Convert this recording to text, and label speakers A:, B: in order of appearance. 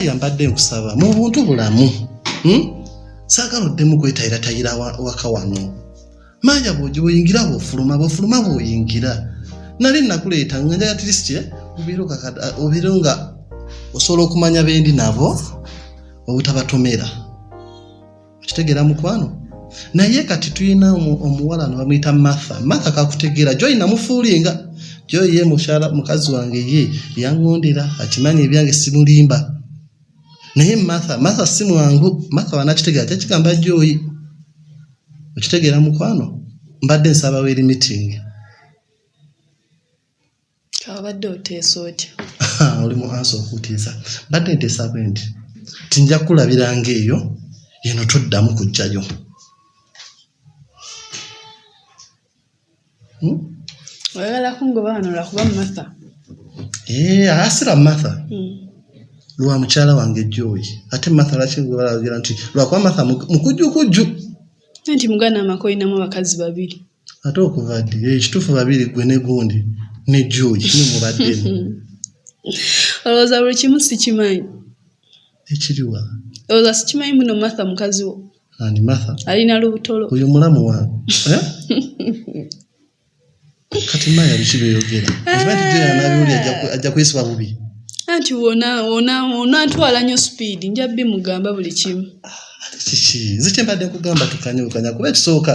A: Maria mbadde nkusaba mu buntu bulamu hmm? saagala oddemu kwetayirataira waka wano maaya bwogi bwoyingira bwofuluma bwofuluma bwoyingira nali nakuleeta nga njala tirisitye obeere nga osobola okumanya bendi nabo obutabatomera okitegeera mukwano naye kati tulina omuwala no bamuyita martha martha kakutegeera joyi namufuulinga joyi ye mukyala mukazi wange ye yaŋŋondera akimanyi ebyange simulimba naye martha martha si mwangu martha wanakitegeera kyakigamba joyi okitegeera mukwano mbadde nsaba weri meeting
B: abadde oteesa otya oli mu ansa
A: okutiisa mbadde nteesa bwe nti tinja kulabiranga eyo eno toddamu kujjayo hmm?
B: oyagala kungoba wano lwakuba matha eh,
A: asira matha hmm. lwa mukyala wange joyi ate matha laki balagera nti lwakuba matha mukujjukujju anti
B: muganda amaka olinamu abakazi babiri ate okuva ddi
A: ekituufu eh, babiri gwe ne gundi ne joy kimu mubadde
B: olowooza buli kimu sikimanyi
A: ekiriwa olowooza
B: sikimanyi muno matha mukazi wo ani matha
A: alina lubutolo oyo
B: mulamu wange
A: eh? kati maya biki byoyogera kibatijeyanabiwuli ajja kwesiba bubi anti wona
B: wona onantwala nyo speed nja bimugamba buli kimu
A: kiki zikyembadde kugamba tukanye bukanya kuba
B: ekisooka